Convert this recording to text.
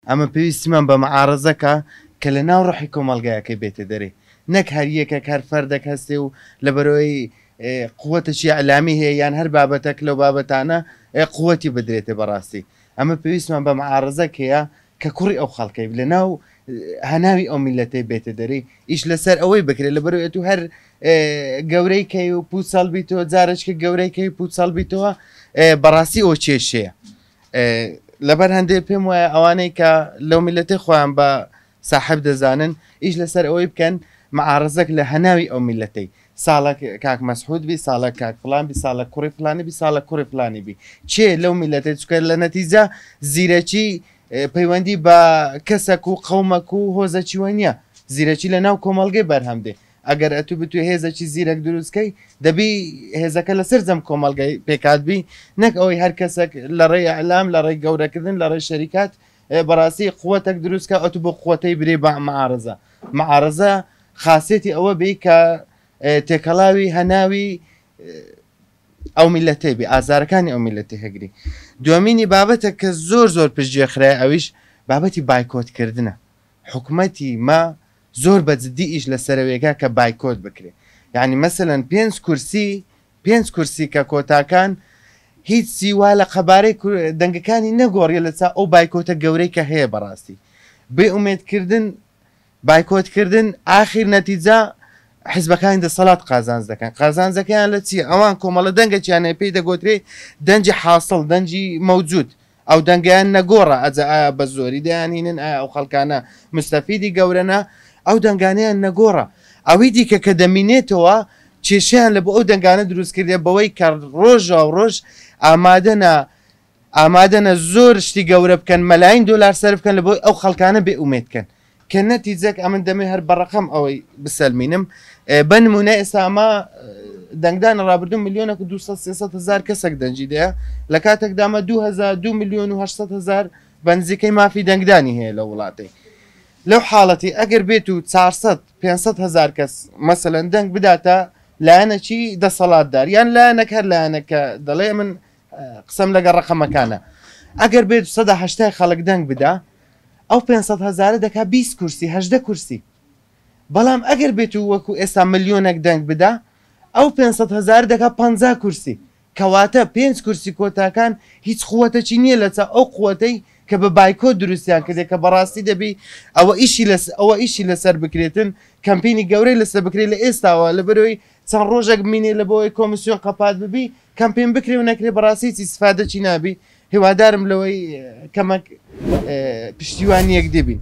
ئەمە پێویستیمان بە معارەزەکە کە لە ناو ڕۆحی کۆمەڵگایەکەی بێتە دەرێ، نەک هەر یەکێک هەر فەردێک هەستێ و لەبەرئەوەی قوتێکی ئیعلامی هەیە یان هەر بابەتەک لەو بابەتانە قوتی بدرێتێ بەڕاستی. ئەمە پێویستمان بە معارەزەک هەیە کە کوڕی ئەو خەڵکەی لە ناو هەناوی ئەو میلەتەی بێتە دەرێ، ئیش لەسەر ئەوەی بکرێت لەبەرئەوەی ئەتوو هەر گەورەی کەی و پوچەڵ بیتەوە، جارێکیکە گەورەی کەی و پوچەڵ بیتەوە بەڕاستی ئەوە کێشەیە. لەبەر هەندێ پێم وایە ئەوانەی کە لەو میلەتی خۆیان بە ساحب دەزانن ئیش لەسەر ئەوەی بکەن معارزەک لە هەناوی ئەو میلەتەی ساڵک کاک مەسحود بی ساڵە کاک فلان بی ساڵە کوڕی فلانی بی ساڵە کوڕی فلانی بی چێ لەو میلەتی چکە لە نەتیجە زیرەکی پەیوەندی بە کەسەک و قەومەک و هۆزەچیوە نیە زیرەکی لە ناو کۆمەلگەی بەرهەم دێ ئەگەر ئەتوو بتوێ هێزەکی زیرەک دروست کەی دەبی هێزەکە لە سەر جەم کۆمەلگای پێکات بی نەک ئەوەی هەر کەسەک لە ڕێی ئەلام لە ڕێی گەورەکردن لە ڕێ شەریکات بەڕاستی قوتەک دروستکە ئەتو بۆ قوتەی برێ بە معارزە معارزە خاصێتی ئەوە بی کە تێکەڵاوی هەناوی ئەو میلەتێ بی ئازارەکانی ئەو میلەتی هەگری دومینی بابەتە کە زۆر زۆر پشتگوێ خراە ئەویش بابەتی بایکۆتکردە حکوومەتی ما زۆر بە جدی ئیش لە سەرەویەکە کە بایکۆت بکرێ یانی مەسەلەن پێنج کورسی پێنج کورسی کە کۆتاکان هیچ چی وا لە قەبارەی دەنگەکانی نەگۆڕیە لە چا ئەو بایکۆتە گەورەی کە هەیە بەڕاستی بێ ئومێد کردن بایکۆت کردن ئاخیر نەتیجە حزبەکانی دەسەڵات قازانج دەکەن قازانجەکەیان لە چی ئەوان کۆمەڵە دەنگەکییانە پێی دەگۆترێ دەنجی حاصل دەنجی مەوجود ئەو دەنگەیان نەگۆڕە ئەجە ئایا بە زۆری دەیانهینن ئایا ئەو خەڵکانە مستەفیدی گەورەنە ئەو دەنگانەیان نەگۆڕە ئەوی دیکە کە دەمینێتەوە کێشیان لە بۆ ئەو دەنگانە دروست کردێ بەوەی کە ڕۆژە و ڕۆژ ئامادەە ئامادەە زۆر شتی گەورە بکەن مەلاین دلار سەر بکەن لە بۆی ئەو خەڵکانە بێ ئومێتکەن کە نەتیجەک ئەمن دەمێ هەر بەڕقم ئەوەی بسەلمینم بە نمونە ئێستا ئەمە دەنگدان ڕابردون میلیۆنە و 200 هزار کەسێک دەنجی دەیە لە کاتێکدامە 2002 میلیۆن و هزار بەنزیکەی مافی دەنگدانی هەیە لە وڵاتی لەو حاڵەتی ئەگەر بێت و 400 500 هزار کەس مەسەەن دەنگ بداتە لایەنەکی دەسەڵاتدار یان لایەنەک هەر لایەنەکە دەڵێ من قسەم لەگە ڕقەمەکانە ئەگەر بێت 1970 خەڵک دەنگ بدا ئەو پێنج سەد هەزارە دەکا بیست کورسی هەژدە کورسی بەڵام ئەگەر بێت و وەکو ئێستا ملیۆنەک دەنگ بدا ئەو پێنج سەد هەزارە دەکا پەنجا کورسی کەواتە پێنج کورسی کۆتاکان هیچ قوەتەکی نیە لەچاو ئەو قوەتەی کە بە بایکۆت دروستیان کردیە کە بەڕاستی دەبی ئەوە ئیشی لەس ئەوە ئیشی لەسەر بکرێتن کەمپینی گەورەی لەسە بکرێ لە ئێستاوە لەبەرئەوەی چەند ڕۆژەک بمینێ لەبەوەی کۆمسیۆن قەپات ببی کەمپین بکرێ و نەکرێ بەڕاستی هیچ ئیسفادەکی نابی هیوادارم لەوەی کەمەک پشتیوان یەکدی بین.